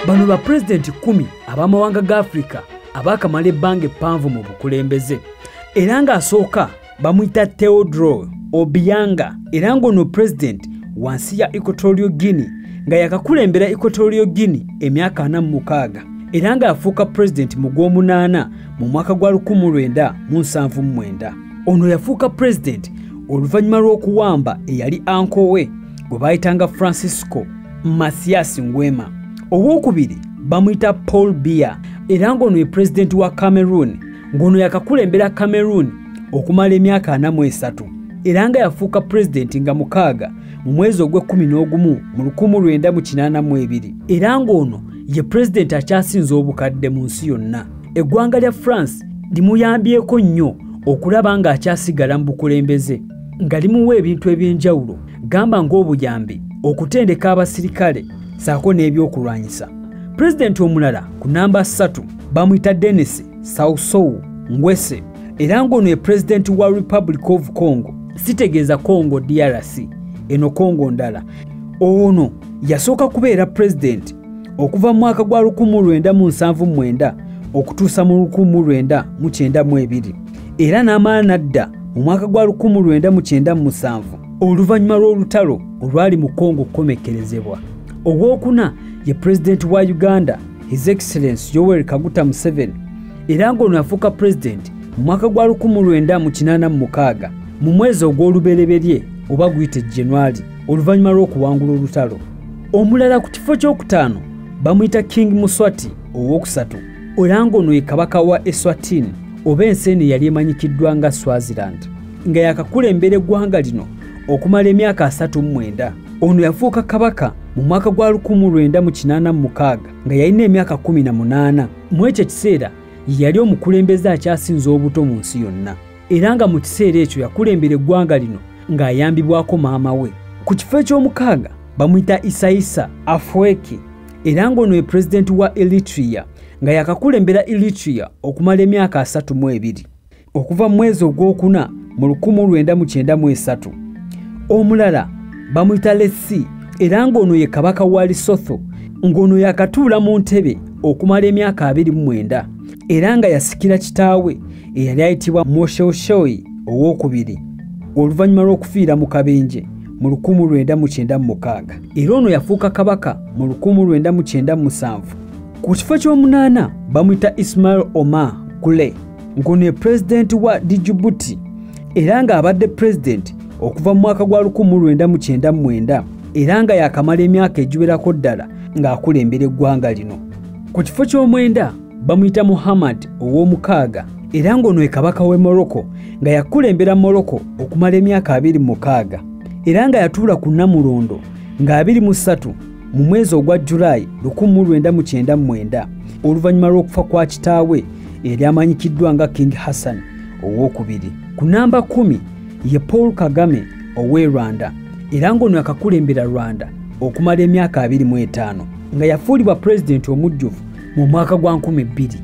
bano ba pulezidenti kumi ab'amawanga ga afirika abaakamala ebbanga eppanvu mu bukulembeze era ng'asooka bamuyita teodro obianga era ng'ono pulezidenti wansi ya equatorio guinea nga yakakulembera equatorio guinea emyaka ana mu mukaaga era ng'afuuka pulezidenti mu gw'omunaana mu mwaka gwa 1979 ono yafuuka pulezidenti oluvannyuma lw'okuwamba eyali ankowe gwe baayitanga francisco masias ngwema owokubiri bamuyita paul biya era ng'ono ye pulezidenti wa cameroon ng'ono yakakulembera cameroon okumala emyaka ana mu esatu era nga yafuuka pulezidenti nga mukaaga mu mwezi ogw'ekkumi n'ogumu mu lukumu lwenda mu kinaana mu ebiri era ng'ono ye pulezidenti akyasinza obukadde mu nsi yonna eggwanga lya france limuyambyeko nnyo okulaba ng'akyasigala mu bukulembeze nga limuwa ebintu eby'enjawulo gamba ng'obuyambi okutendeka abasirikale saako n'ebyokulwanyisa pulezidenti omulala ku namba 3 bamuyita denis sausou ngwese era ng'ono ye pulezidenti wa republic of congo sitegeeza congo drc eno congo ndala ono yasooka kubeera pulezidenti okuva mu mwaka gwa 1979 okutuusa mu 1992 era n'amala n'adda mu mwaka gwa 1997 oluvannyuma lw'olutalo olwali mu kongo okukomekkerezebwa ogwokuna ye pulezidenti wa uganda his excellence yoweri kaguta museveni era ng'ono yafuuka pulezidenti mu mwaka gwa 1986 mu mwezi ogw'olubereberye oba guyite januari oluvannyuma lw'okuwangula olutalo omulala ku kifo ky'okutaano bamuyita king muswati ow'okusatu Olango ono ye kabaka wa Eswatini oba ensi eno eyali emanyikiddwa nga Swaziland nga yakakulembera eggwanga lino okumala emyaka asatu mu mwenda. Ono yafuuka kabaka mu mwaka gwa 1986 nga yalina emyaka 18. Mu ekyo ekiseera ye yali omukulembeze akyasinze obuto mu nsi yonna. era nga mu kiseera ekyo yakulembera eggwanga lino ng'ayambibwako maama we ku kifo eky'omukaaga bamuyita isaisa afweki era ng'ono ye pulezidenti wa eritria nga yakakulembera eritria okumala emyaka asatu mu ebiri okuva mu mwezi ogw'okuna mu 1993 omulala bamuyita lesi era ng'ono ye kabaka wa lisotho ng'ono yakatuula mu ntebe okumala emyaka 29 era nga yasikira kitaawe eyali ayitibwa mosheoshoi owokubiri oluvannyuma lw'okufiira mu kabenje mu 1996 era ono yafuuka kabaka mu 1997 ku kifo ky'omunaana bamuyita ismail omar gule ng'ono ye pulezidenti wa dijibuti era ng'abadde pulezidenti okuva mu mwaka gwa 1999 era nga yakamala emyaka egiwerako ddala ng'akulembera eggwanga lino ku kifo ky'omwenda bamuyita muhammad ow'omukaaga era ng'ono ye kabaka w'e morocco nga yakulembera morocco okumala emyaka abiri mukaaga era nga yatuula ku nnamulondo nga abiri mu ssatu mu mwezi ogwa julayi 1999 oluvannyuma lw'okufa kwa kitaawe eryamanyikiddwa nga king hassan ow'okubiri ku namba 1 ye paul kagame ow'e rwanda era ng'ono yakakulembera rwanda okumala emyaka 25 nga yafuulibwa pulezidenti omujjuvu mu mwaka gwa nkumi bbiri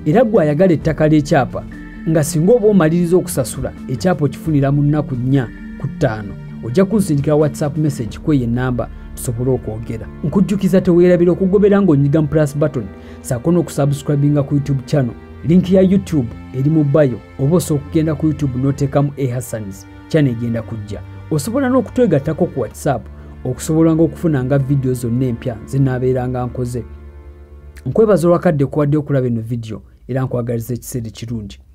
era gwe ayagala ettaka ly'ekyapa nga singa oba omaliriza okusasula ekyapa okifunira mu nnaku nnya ku ttaano ojja kunsindikira whatsapp message kweyo ennamba tusobole okwogera nkujjukiza teweerabira okugobera ng'onyiga mu plus button saako n'okusubscribinga ku youtube channel linki ya youtube eri mu bayo oba osobola okugenda ku youtube n'oteekamu ehassans channel egenda kujja osobola n'okutwegattako ku whatsapp okusobolanga okufunanga vidiyo zonna empya zinaabeeranga nkoze nkwebaza olwakadde kuwadde okulaba eno vidiyo era nkwagaliza ekiseera ekirungi